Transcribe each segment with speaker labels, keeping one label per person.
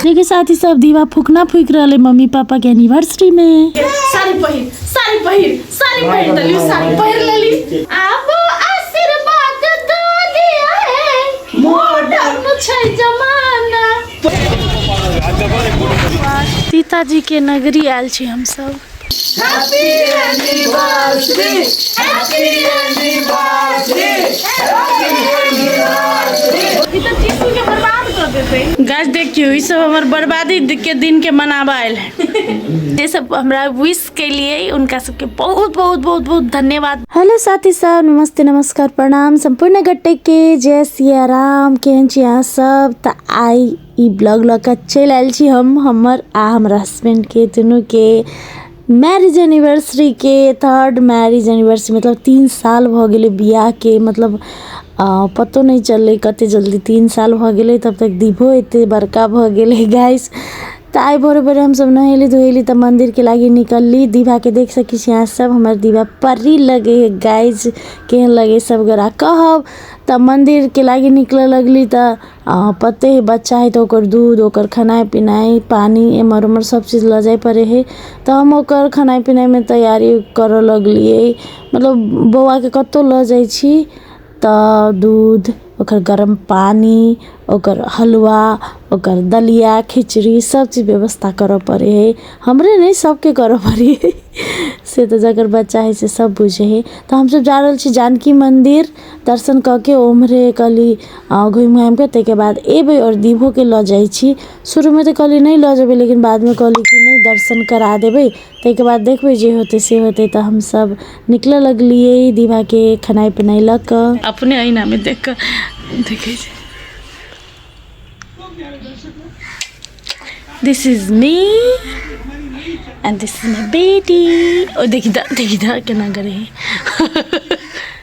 Speaker 1: देखिए साथी सब
Speaker 2: दीवा फूकना फूक रहे मम्मी पापा के एनिवर्सरी में सारी पहिर
Speaker 3: सारी पहिर सारी पहिर तली सारी पहिर लेली आप आशीर्वाद दो दिया है मॉडर्न छै जमाना
Speaker 2: सीता जी के नगरी आयल छी हम सब
Speaker 3: गाछ देखियो ई सब
Speaker 2: हमर बर्बादी के दिन के मनावा आयल है जे सब हमरा विश के लिए उनका सबके बहुत बहुत बहुत बहुत धन्यवाद हेलो साथी सब नमस्ते नमस्कार प्रणाम सम्पूर्ण गट्टे के जय सिया राम केहन छी अहाँ सब तऽ आइ ई ब्लॉग लऽ कऽ चलि आयल छी हम हमर आ हमर हस्बैंडके दुनूके मैरिज एनिवर्सरीके थर्ड मैरिज एनिवर्सरी मतलब तीन साल भऽ गेलै बियाहके मतलब आ, पतो नहि चललै कते जल्दी तीन साल भऽ गेलै तब तक दीपो एते बड़का भऽ गेलै गाइस तऽ आइ भोरे भोरे हमसभ नहेली धोएली तऽ मन्दिरके लागि निकलली दीवाके देख सकै छी अहाँ सब हमर दीवा परी लगे है गाइस केहन लगे सब गोरा कहब तऽ मन्दिरके लागि निकलऽ लगली तऽ आ पते हइ बच्चा हइ तऽ ओकर दूध ओकर खेनाइ पिनाइ पानि एम्हर ओम्हर सभ चीज लऽ जाइ पड़ै हइ तऽ हम ओकर खेनाइ पिनाइमे तैयारी करऽ लगलियै मतलब बौआके कतौ लऽ जाइ छी तऽ दूध ओकर गरम पानि ओकर हलुआ ओकर दलिया खिचड़ी सभ चीज व्यवस्था करऽ पड़ै हइ हमरे नहि सभके करऽ पड़ै हइ से तऽ जकर बच्चा हइ से सभ बुझै हइ तऽ हम सभ जा रहल छी जानकी मन्दिर दर्शन कऽ के ओम्हरे कहली घुमि घामिके ताहिके बाद एबै आओर दीपोके लऽ जाइ छी शुरूमे तऽ कहली नहि लऽ जेबै लेकिन बादमे कहली कि नहि दर्शन करा देबै ताहिके बाद देखबै जे होतै से होतै तऽ हमसभ निकलऽ लगलिए दीवाके खेनाइ पिनाइ लऽ कऽ अपने अहिनामे देख कऽ देखै छै this is me and this is my बेटी ओ देखी दा देखी दा केना करै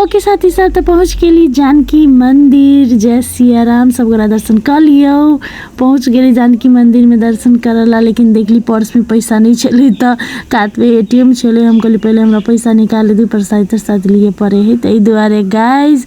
Speaker 2: ओके साथी साथ तऽ पहुँच गेली जानकी मंदिर जय सिया राम सब गोरा दर्शन कर लियो पहुँच गेली जानकी मंदिर में दर्शन करला लेकिन देखली पर्स में पैसा नहीं छले तऽ कात में एटीएम छले हम कहली पहले हमरा पैसा निकाल दी परसाई तरसाई लिए पड़े है ताहि दुआरे गाइज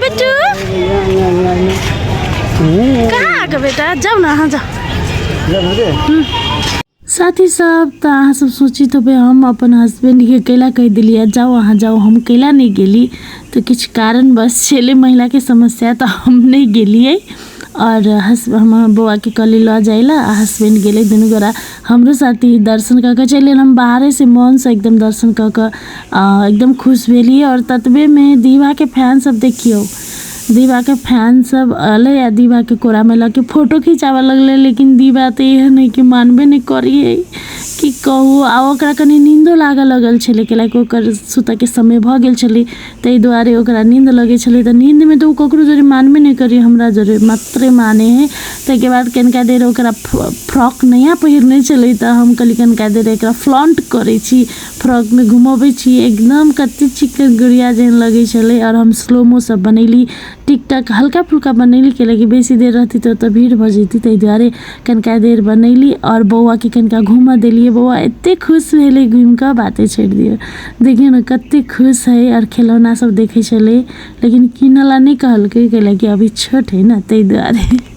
Speaker 2: बेटू कहाँ आएको बेटा जाऊ न अहाँ जाऊ साथी सब तो अहाँ सब सोची तो भाई हम अपन हस्बैंड के अकेला कह दिलिए जाओ अहाँ जाओ हम अकेला नहीं गेली तो कुछ कारण बस छेले महिला के समस्या तो हम नहीं गेलिए और हस हम बौआ के कली लऽ जाइला आ हस्बैंड गेले दुनू गोरा हमरो साथी दर्शन कऽ के चलि हम बाहरे से मन से एकदम दर्शन कऽ के एकदम खुश भेलियै आओर ततबेमे दीवाके फैन सब देखियौ दीवाके फैन सब अलै आ दीवाके कोरामे लऽ के फोटो खिंचाबऽ लगलै लेकिन दीवा तऽ एहन है कि मानबे नहि करियै की कहू आ ओकरा कनि नींदो लागऽ लगल छलै कैलाकि ओकर सुतऽके समय भऽ गेल छलै ताहि दुआरे ओकरा नींद लगै छलै तऽ नींदमे तऽ ओ ककरो जरे मानबे नहि करै हमरा जरे मात्रे माने है ताहिके बाद कनिका देर ओकरा फ्रॉक नया पहिरने छलै तऽ हम कहलियै कनिका देर एकरा फ्लॉन्ट करै छी फ्रॉकमे घुमबै छी एकदम कते चिकन गुड़िया जेहन लगै छलै आओर हम स्लोमो सब बनेली टिकटक हल्का फुल्का बनेली कैलाकि बेसी देर रहती तऽ ओतऽ भीड़ भऽ जैती ताहि दुआरे कनिका देर बनेली आओर बौआके कनिका घूमऽ देलियै बौआ एते खुश भेलै घूमि कऽ बाते छोड़ि दियौ देखियौ ने कते खुश है आओर खेलौना सब देखै छलै लेकिन किनऽ ला नहि कहलकै कैलाकि अभी छोट है ने ताहि दुआरे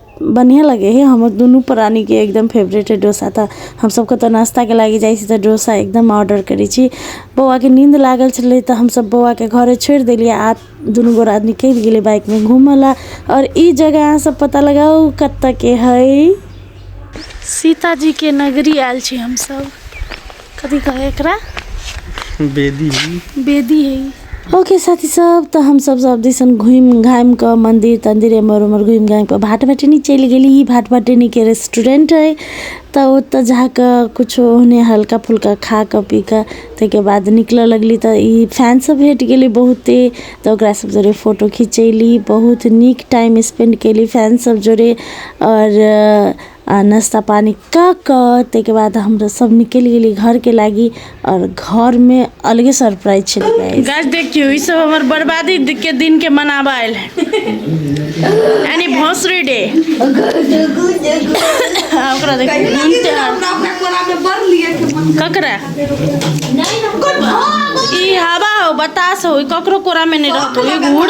Speaker 2: बढ़िआँ लगै हइ हमर दुनू प्राणीके एकदम फेवरेट हइ डोसा तऽ हमसब कतहु नाश्ताके लागी जाइ छी तऽ डोसा एकदम ऑडर करै छी बौआके नीन्द लागल छलै तऽ हमसब बौआके घरे छोड़ि देलिए आओर दुनू गोरा निकलि गेलिए बाइकमे घुमैलए आओर ई जगह अहाँसब पता लगाउ कतऽके हइ सीताजीके नगरी आएल छी हमसब कथी कहे एकरा
Speaker 1: बेदी बेदी
Speaker 2: है ओके साथी सब तो हम सब सब दिसन घूम घाम के मंदिर तंदिर एमर उमर घूम घाम के भाट भटनी चल गई भाट भटनी के रेस्टोरेंट है तो ओत जाके कुछ उन्हें हल्का फुल्का खा के पी के तक बाद निकल लगली तो ई फैन सब भेट गई बहुते तो ओकरा सब जोरे फोटो खिंचैली बहुत निक टाइम स्पेंड कैली फैन सब जोरे और आ नाश्ता पानी कऽ कऽ ताहिके बाद हमसभ निकलि गेली घरके लागी आओर घरमे अलगे सरप्राइज छलै गाइस गाइस देखियौ ई सब हमर बर्बादी के दिन के मनाबा आयल है यानी भोसरी डे आ ओकरा देखियौ नून से हाथ। ककरा ई हवा हो बतास हो ई ककरो कोरा में नहीं रहतो ई घूर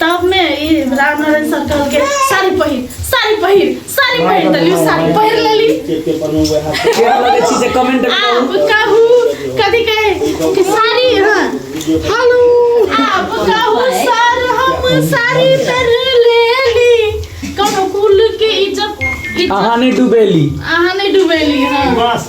Speaker 3: तब में ई राम नारायण सर कहल के साड़ी पहिर साड़ी पहिर साड़ी पहिर त लियो साड़ी पहिर लेली क्या लगे छी से
Speaker 1: कमेंट आ करू कहू
Speaker 3: कथी कहे कि साड़ी हां हेलो आप कहू सर हम साड़ी पहिर लेली कोनो कुल के इज्जत इज्जत अहाँ नहीं
Speaker 1: डूबेली अहाँ नहीं डूबेली
Speaker 3: हां बस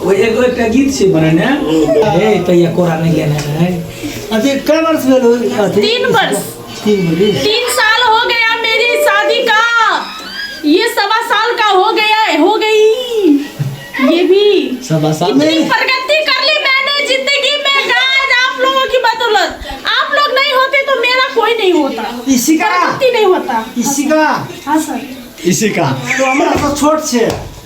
Speaker 3: ओए एगो एकटा
Speaker 1: गीत छै बनेने हे तैया कोरा नहि लेने है अथी कै
Speaker 4: वर्ष भेल हो अथी तीन वर्ष
Speaker 3: तीन वर्ष तीन साल हो गया मेरी शादी का ये सवा साल का हो गया हो गई ये भी सवा साल इतनी
Speaker 4: प्रगति कर
Speaker 3: ली मैंने जिंदगी में गाइस आप लोगों की बदौलत आप लोग नहीं होते तो मेरा कोई नहीं होता इसी का प्रगति
Speaker 4: नहीं होता
Speaker 3: इसी का
Speaker 4: हाँ
Speaker 3: सर इसी का
Speaker 4: तो हमरा तो छोट छै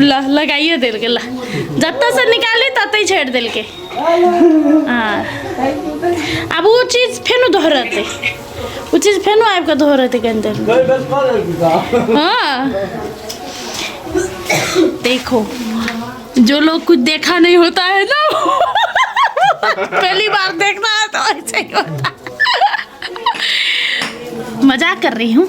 Speaker 2: ल लगाइए देलकै ल जतऽसँ निकाली ततै छोड़ि देलकै हँ आब ओ चीज फेनो दोहरतै ओ चीज फेनो आबि कऽ दोहरतै कनि देर हँ देखो जो लोग कुछ देखा नहीं होता है ना पहली बार देखना है तो ऐसे ही होता मजाक कर रही हूँ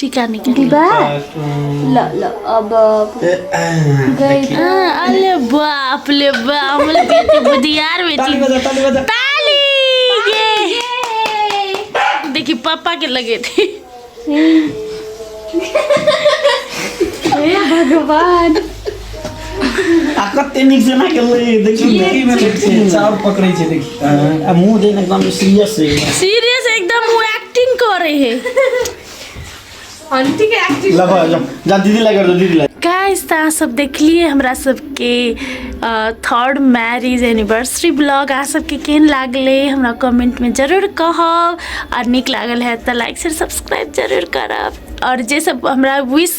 Speaker 2: टिका निकाल्ने विवाह
Speaker 3: ल ल अब गई अरे
Speaker 2: बाप ले बा हमले बेटी बुधियार बेटी ताली बजा ताली बजा ताली ये देखी पापा के लगे थे
Speaker 3: हे भगवान आ कते नीक जेना के ले देखी ने की में देख छै चाउर
Speaker 1: पकड़ै छै देख आ मुंह देने एकदम सीरियस है सीरियस एकदम
Speaker 2: वो एक्टिंग कर रहे है अंतिक एक्टिंग ला भा जा
Speaker 3: जा दीदी
Speaker 1: लगा दो दीदी लगा गाइस त अहाँ सब
Speaker 2: देखलिए हमरा सबके थर्ड मैरिज एनिवर्सरी ब्लॉग अहाँ सबके केहन लागलै हमरा कमेंट में जरूर कहब और नीक लागल है त लाइक शेयर सब्सक्राइब जरूर करब और जे सब हमरा विश